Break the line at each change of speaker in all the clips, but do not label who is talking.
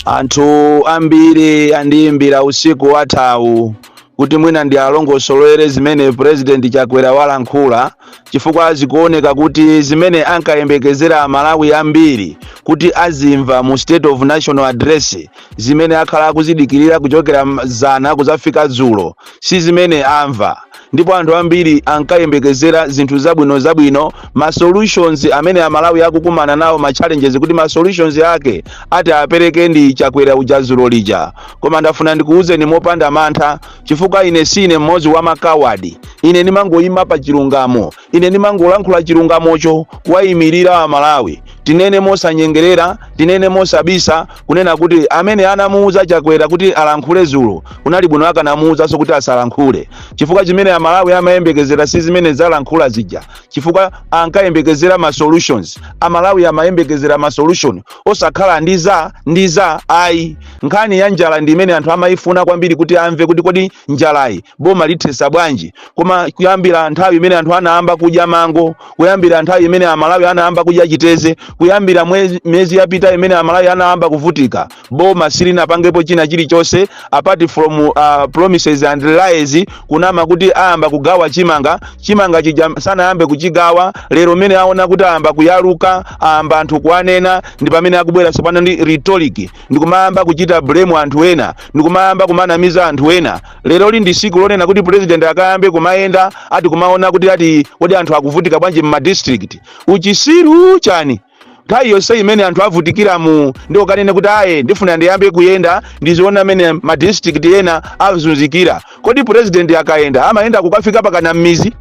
Anthu ambiri andiyimbira usiku wathawu kuti mwina ndialongosolere zimene President Chakwera walankhula chifukwa zikuoneka kuti zimene ankayembekezera Amalawi ambiri kuti azimva mu State of National Address zimene akhala akuzidikirira kuchokera zana kuzafika dzulo si zimene amva ndipo anthu ambiri ankayembekezera zinthu zabwino zabwino ma solutions amene amalawi akukumana nawo ma challenges kuti ma solutions ake ati apereke ndi chakwera uja dzulo lija koma ndafuna ndikuwuzeni mopanda mantha chifukwa ine sine mmodzi wa makawadi ine ndimangoyima pa chilungamo Ine ndimangolankhula chilungamocho kuwayimirira a Malawi. Tinene mosanyengerera, tinene mosabisa kunena kuti amene anamuuza Chakwera kuti alankhule zulo kunali bwino akanamuuzanso kuti asalankhule. Chifukwa chimene a Malawi amayembekezera si zimene walankhula zija. Chifukwa ankayembekezera ma solutions. A Malawi amayembekezera ma solution osakhala ndi za ndi za ayi. Nkhani ya njala ndi imene anthu amayifuna kwambiri kuti amve kuti kodi njalayi boma lithesa bwanji. koma kuyambira nthawi imene anthu anayamba kudya mango kuyambira nthawi imene amalawi anayamba kudya chiteze kuyambira miyezi yapita imene amalawi anayamba kuvutika boma silinapangepo china chilichonse apart from promises and lies kunama kuti ayamba kugawa chimanga chimanga chija sanayambe kuchigawa lero mmene aona kuti ayamba kuyaluka ayamba anthu kuwanena ndi pamene akubwera tsopano ndi rhetoric ndikumayamba kuchita blame anthu ena ndikumayamba kumanamiza anthu ena leroli ndi siku lonena kuti president akayambe kumayenda ati kumaona kuti ati kodi anthu akuvutika bwanji mma district uchisiru chani nthawi yonse imene anthu avutikiramu ndiye ukanene kuti aye ndifuna ndiyambe kuyenda ndiziona mmene ma district ena akuzunzikira kodi president akayenda amayenda kukafika pakana mmizi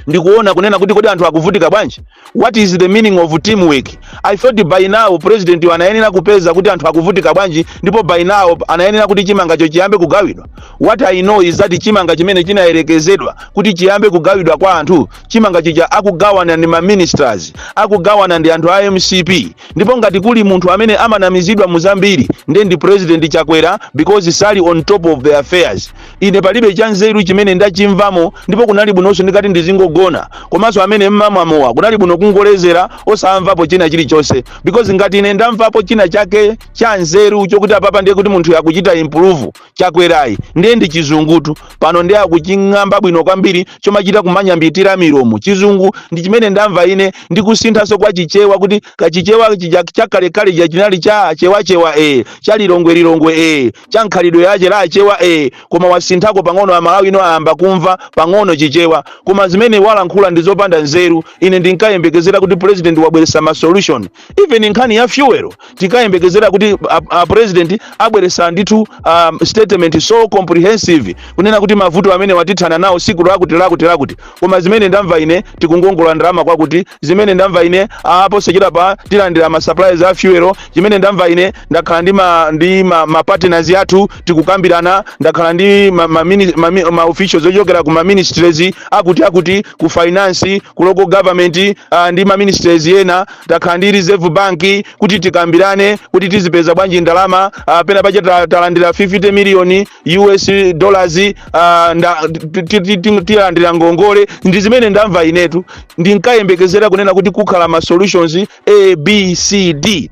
ndikuona kunena kuti kodi anthu akuvutika bwanji what is the meaning of teamwork i thought by now presidentiyu anayenera kupeza kuti anthu akuvutika bwanji ndipo by now anayenera kuti chimangacho chiyambe kugawidwa what i know is that chimanga chimene chinayerekezedwa kuti chiyambe kugawidwa kwa anthu chimanga chija akugawana ndi maministers akugawana ndi anthu a mcp ndipo ngati kuli munthu amene amanamizidwa muzambiri nde ndi president chakwera because sali on top of the affairs ine palibe chanzeru chimene ndachimvamo ndipo kunali bwinonso ndikanati ndizingogona komanso amene mmamwa mowa kunali bwino kungolezera osamvapo china chilichonse because ngati ine ndamvapo china chake cha nzeru chokuti apapa ndiye kuti munthu akuchita improve chakwerayu ndiye ndi chizungu tu pano ndiye akuching'amba bwino kwambiri chomachita kumanyambitira milomo chizungu ndi chimene ndamva ine ndikusinthanso kwa chichewa kuti kachichewa chakalekale chija chinali cha chewachewa cha lilongwelilongwe cha mkhalidwe yache la chewa ee koma wasinthako pang'ono amalawi ano ayamba kumva pang'ono chichewa koma zimene walankhula ndi zopanda nzeru ine ndinkayembekezera kuti president wabweresa ma solution even nkhani ya fuel tikayembekezera kuti a, a president abweresa ndithu um, statement so comprehensive kunena kuti mavuto amene watithana nawo siku lakuti lakuti lakuti Koma zimene ndamva ine tikungongola ndalama kwakuti zimene ndamva ine ah, posachedwapa tilandira ma supplies a fuel zimene ndamva ine ndakhala ndi ma ndi ma, ma partners athu tikukambirana ndakhala ndi ma, ma, mini- ma, mi- ma officials ochokera ku ma ministries akuti akuti ku finance ku local government ah, ndi ma ministries ena takhala ndi reserve bank kuti tikambirane kuti tizipeza bwanji ndalama ah, pena pache ta- talandira 50 million us dollars ah, nda- ti- ti- ti- ti- tilandira ngongole ndi zimene ndamva inetu ndinkayembekezera kunena kuti kukhala ma solutions a b c d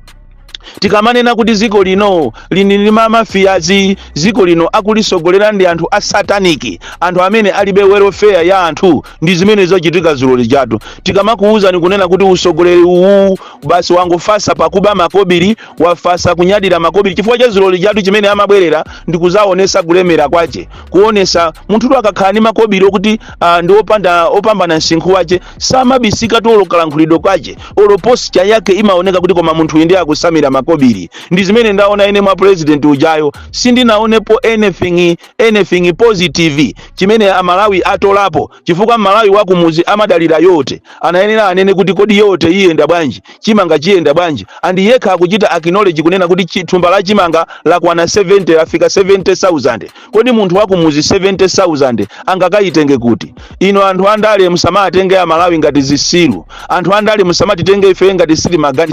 tikamanena kuti ziko lino lili ndi mamafiyazi ziko lino akulisogolera ndi anthu a sataniki anthu amene alibe welfare ya anthu ndi zimene zachitika zulo lijatu tikamakuwuzani kunena kuti usogoleri uwu basi wangofasa pakuba makobiri wafasa kunyadira makobiri chifukwa cha zulo lijatu chimene amabwerera ndi kuzaonesa kulemera kwache kuonesa munthutu akakhala ndi makobiri okuti uh, ndi opanda opambana msinkhu wache samabisikatu olo kalankhulidwe kwache olo posture yake imaoneka kuti koma munthu uyu ndiye akusambira makobiri ndi zimene ndaona ine mwa president ujayo sindinaonepo anything anything positive chimene amalawi atolapo chifukwa Mmalawi wakumuzi amadalira yote, anayenera anene kuti kodi yote iyenda bwanji, chimanga chiyenda bwanji and yekha akuchita acknowledge kunena kuti chi, thumba la chimanga lakwana 70 lafika 70,000. Kodi munthu wakumuzi 70,000 angakayitenge kuti? Inu anthu andale musamatenge a Malawi ngati zisiru, anthu andale musamatitenge ife ngati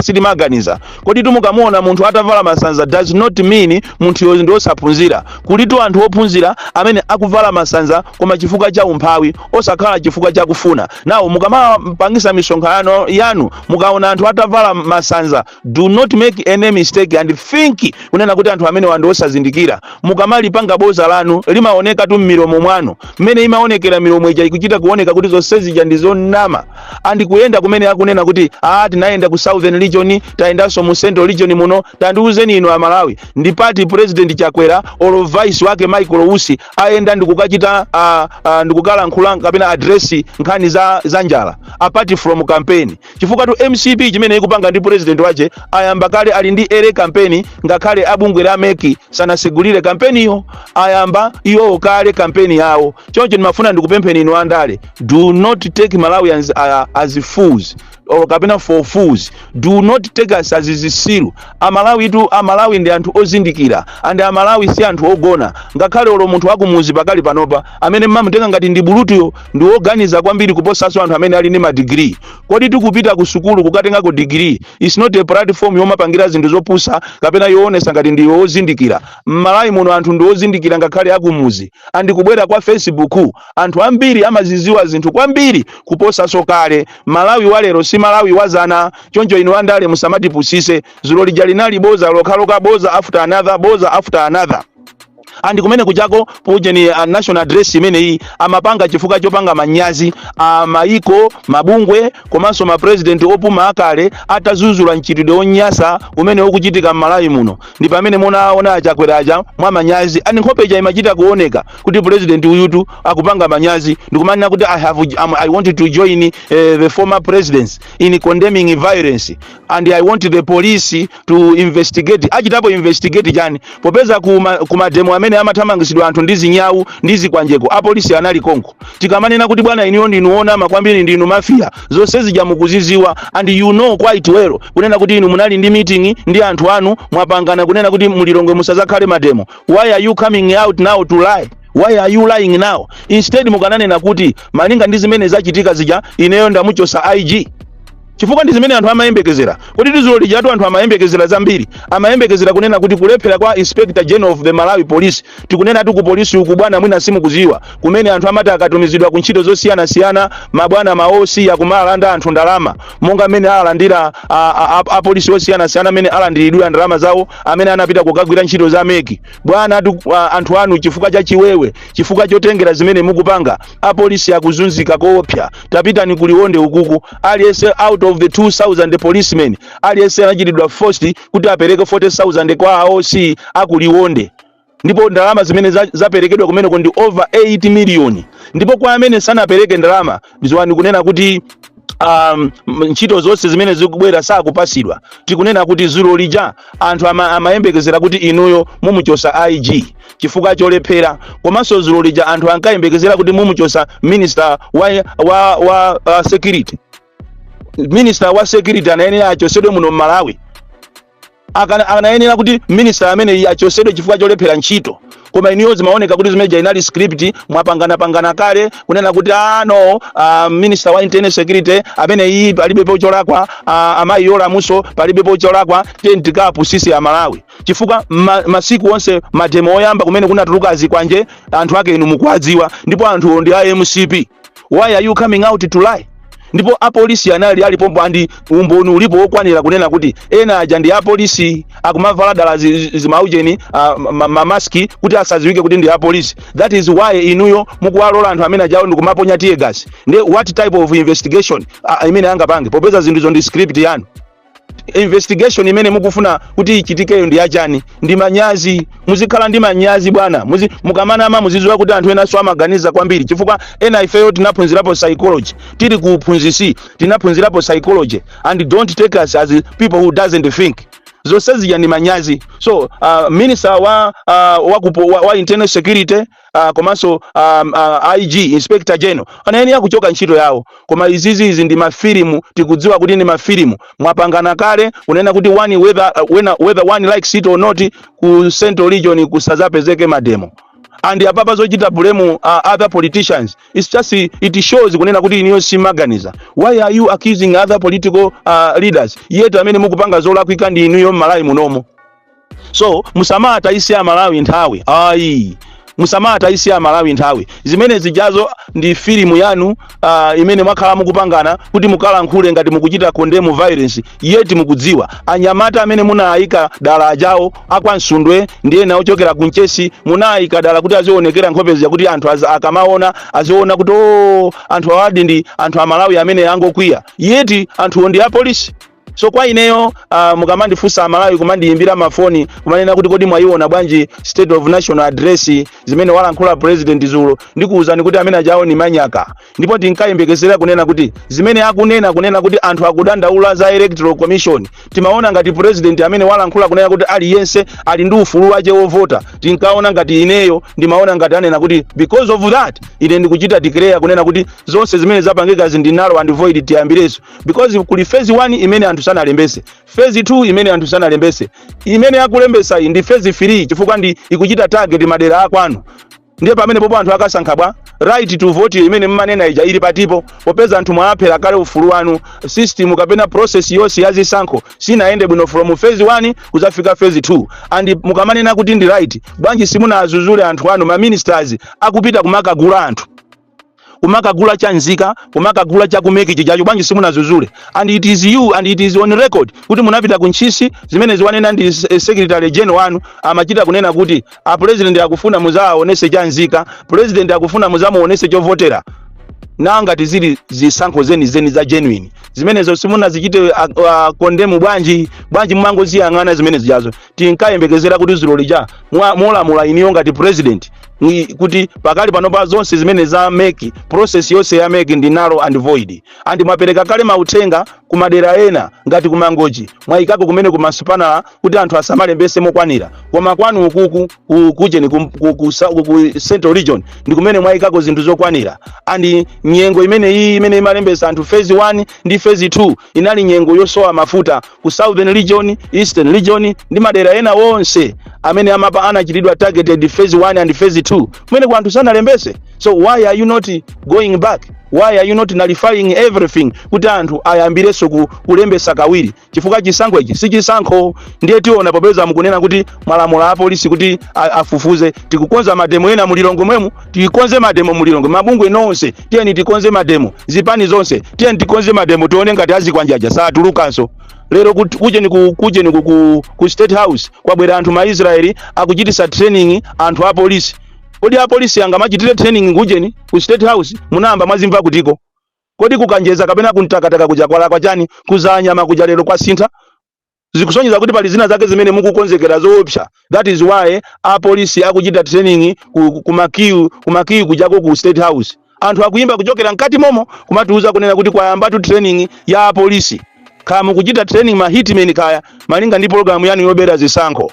sitimaganiza, Koditu mukamuona munthu atavala masanza does not mean munthuyo ndi osaphunzira. Kulitu anthu ophunzira amene akuvala masanza koma chifukwa cha umphawi osakhala chifukwa cha kufuna. Now mukamapangisa misonkhano yanu mukaona anthu atavala masanza do not make any mistake and think kunena kuti anthu amenewa ndi osazindikira. Mukamalipanga boza lanu limaonekatu m'milomo mwanu. Mmene imaonekera milomo ija ikuchita kuoneka kuti zonse zija ndi zonama. and kuyenda kumene akunena kuti ah tinayenda ku southern region tayendanso mu central region muno tandiuzeni inu amalawi ndi pati president chakwera or vice wake michael usi ayenda ndikukachita ah, ah, ndikukalankhula kapena address nkhani za, za njala apart from campaign chifukwatu mcp chimene ikupanga ndi president wache ayamba kale ali ndi early campaign ngakhale abungwe la mec sanasegulire kampeniyo ayamba iwowo kale kampeni yawo choncho ndimafuna ndikupempheni inu andale do not take malawians uh, as fools or kapena for fools do not take us as zisilu amalawitu amalawi ndi anthu ozindikira and amalawi si anthu ogona ngakhale olo munthu wakumuzi pakali panopa amene mmamutenga ngati ndi bulutuyo ndi woganiza kwambiri kuposanso anthu amene ali ndi madigiri kodi tikupita ku sukulu kukatengako digiri is not a platform yomapangira zinthu zopusa kapena yoonesa ngati ndi wozindikira mmalawi muno anthu ndi ozindikira ngakhale akumuzi and kubwera kwa Facebook anthu ambiri amaziziwa zinthu kwambiri kuposaso kale malawi wa lero si malawi wa dzana choncho inu andale musamatipusise zulo lija linali boza lokhaloka boza after another boza after another and kunena kuti pujeni uh, national address imeneyi amapanga chifukwa chopanga manyazi a maiko mabungwe komanso mapresident opuma akale atazuzula mchitidwe wonyasa umene ukuchitika m'malawi muno ndi pamene munaona achakwera aja mwa manyazi and nkhope ija imachita kuoneka kuti president uyutu akupanga manyazi ndikumanena kuti I, have, um, i want to join uh, the former presidents in condemning violence and i want the police to investigate achitapo investigate chani popeza kuma, kuma demo amene amathamangisidwa anthu ndi zinyawu ndi zikwanjeko apolisi anali konko tikamanena kuti bwana inuyo ndinu onama kwambiri ndinu mafia zonse zija mukuziziwa and you know quite well kunena kuti inu munali ndi meeting ndi anthu anu mwapangana kunena kuti mu Lilongwe musazakhale mademo why are you coming out now to lie why are you lying now instead mukananena kuti malinga ndi zimene zachitika zija ineyo ndamuchosa ig chifukwa ndi zimene anthu amayembekezera kodi tu zulo lijatu anthu amayembekezera zambiri amayembekezera kunena kuti kulephera kwa inspector general of the malawi police tikunena ati ku polisi uku bwana mwina simukuziwa kumene anthu amati akatumizidwa ku ntchito zosiyanasiyana mabwana maosi akumawalanda anthu ndalama monga mmene alandira a- a- a- apolisi osiyanasiyana amene alandidwa ndalama zawo amene anapita kukagwira ntchito za MEC bwana ati, a- anthu anu chifukwa cha chiwewe chifukwa chotengera zimene mukupanga apolisi akuzunzika koopsa tapitani ku liwonde ukuku aliyense out of the 2000 policemen aliyense anachitidwa forced kuti apereke 40000 kwa a OC aku liwonde ndipo ndalama zimene za- zaperekedwa kumeneko ndi over 8 million ndipo kwa amene sanapereke ndalama ziwani kunena kuti um, m- ntchito zonse zimene zikubwera sakupasidwa tikunena kuti zulo lija anthu ama- amayembekezera kuti inuyo mumuchosa ig chifukwa cholephera komanso zulo lija anthu ankayembekezera kuti mumuchosa minister wa, wa, wa uh, security minister wa security anayenera achosedwe muno mmalawi Akana- anayenera kuti minister amene achosedwe chifukwa cholephera ntchito koma inuyo zimaoneka kuti zimene zija inali script mwapanganapangana kale kunena kuti a no uh, minister wa internal security ameneyu palibepo cholakwa uh, amayi Yolamu so palibepo cholakwa tentikapu sisi amalawi chifukwa ma, masiku onse mademo oyamba kumene kunatuluka a zikwanje anthu ake inu mukuwadziwa ndipo anthuwo ndi a mcp why are you coming out to lie ndipo apolisi anali alipompo andi umboni ulipo wokwanira kunena kuti ena aja ndi apolisi akumavala dala zi- zi- zimaujeni ah, ma- mamaski kuti asadziwike kuti ndi apolisi that is why inuyo mukuwalola anthu amene ajawo ndikumaponya tear gas nde what type of investigation ah, imene angapange popeza zinthuzo ndi script yanu investigation imene mukufuna kuti ichitikeyo ndi yachani ndi manyazi muzikhala ndi manyazi bwana Muzi, mukamanama muzidziwa kuti anthu enanso amaganiza kwambiri chifukwa ena ifeyo tinaphunzirapo psychology tili ku uphunzitsi tinaphunzirapo psychology and don't take us as people who doesn't think zonse zija ndi manyazi so uh, minister wa, uh, wa, kupo- wa, wa internal security uh, komanso um, uh, IG Inspector General amayenera kuchoka ntchito yawo, koma izizi izi ndi mafilimu, tikudziwa kuti ndi mafilimu. Mwapangana kale kunena kuti one whether, uh, when, whether one likes it or not ku Central Region kusazapezeke mademo and apapa zochita blame uh, other politicians it's just it shows kunena kuti inuyo simuganiza why are you accusing other political uh, leaders yet amene mukupanga zolakwika ndi inuyo m'Malawi munomo so musamatayise amalawi nthawi ayi musamatayise amalawi nthawi zimene zijazo ndi filimu yanu uh, imene mwakhala mukupangana kuti mukalankhule ngati mukuchita condemn violence yet mukudziwa anyamata amene munawayika dala ajawo akwa Msundwe ndi ena ochokera ku Mchesi munawayika dala kuti azionekera nkhope zija kuti anthu aza- akamaona aziona kuti o anthu awadi ndi anthu amalawi amene angokwiya yet anthuwo ndi apolisi So kwa ineyo uh, mukamandifunsa amalawi kumandiyimbira mafoni kumanena kuti kodi mwayiona bwanji state of national address zimene walankhula president zulo ndikuwuzani kuti amene ajawo ndi manyaka ndipo ndinkayembekezera kunena kuti zimene akunena kunena kuti anthu akudandaula za electoral commission timaona ngati president amene walankhula kunena kuti aliyense ali ndi ufulu wache wovota tinkaona ngati ineyo ndimaona ngati anena kuti because of that ine ndikuchita declare kunena kuti zonse zimene zapangikazi ndi null and void tiyambirenso because kuli phase 1 imene anthu sanalembetse phase 2 imene anthu sanalembetse imene akulembetsa iyi ndi phase 3 chifukwa ndi ikuchita target madera akwanu ndiye pamene pompo anthu akasankha bwanji right to vote iyo imene mmanena ija ili patipo popeza anthu mwawaphera kale ufulu wawo system kapena process yonse ya zisankho sinayende bwino from phase 1 kuzafika phase 2 and mukamanena kuti ndi right bwanji simunawadzudzule anthu anu ma ministers akupita kumakagula anthu kumakagula chanzika kumakagula cha ku MEC chijacho bwanji simunazuzule and it is you and it is on record kuti munapita ku ntchisi zimene ziwanena ndi s- eh, secretary general wanu amachita kunena kuti a president akufuna muzawaonese chanzika president akufuna muzamuonese chovotera na ngati zili zisankho zeni zeni za genuine zimenezo simunazichite uh, uh, condemn bwanji bwanji mumangoziyang'ana zimene zijazo tinkayembekezera kuti ziloli ja mwa- mwalamula iniyo ngati president ni kuti pakali panopa zonse zimene za MEC process yonse ya MEC ndi null and void and mwapereka kale mauthenga ku madera ena ngati ku mangochi mwayikako kumene kuma spanner kuti anthu asamalembese mokwanira koma kwanu ukuku ku- kujeni ku, ku, ku, sa- ku, ku central region ndi kumene mwayikako zinthu zokwanira and nyengo imene iyi imene imalembesa anthu phase 1 ndi phase 2 inali nyengo yosowa mafuta ku southern region eastern region ndi madera ena onse amene amapa anachitidwa targeted phase 1 and phase 2 kumene kuti anthu sanalembese so why are you not going back why are you not nullifying everything kuti anthu ayambirenso ku, kulembesa kawiri chifukwa chisankho ichi si chisankho ndiye tiona popeza mukunena kuti mwalamula apolisi kuti a- afufuze tikukonza mademo ena mu lilongwe mwemu tikonze mademo mu lilongwe mabungwe nonse tiyeni tikonze mademo zipani zonse tiyeni tikonze mademo tione ngati azikwanje aja satulukanso lero kut- kujeni ku, kujeni ku, ku, ku state house kwabwera anthu ma israeli akuchitisa training anthu a polisi kodi a polisi angamachitire training kujeni ku state house munayamba mwazimva kutiko kodi ku kanjedza kapena ku mtakataka kuja kwalakwa chani ku dzalanyama kuja lero kwasintha zikusonyeza kuti pali zina zake zimene mukukonzekera zoopsa that is why apolisi akuchita training ku, ku, ku makiyu ku makiyu kujako ku state house anthu akuyimba kuchokera mkati momo kumatiuza kunena kuti kwayambatu training ya apolisi kaya mukuchita training ma hitmen kaya malinga ndi pologalamu yanu yobera zisankho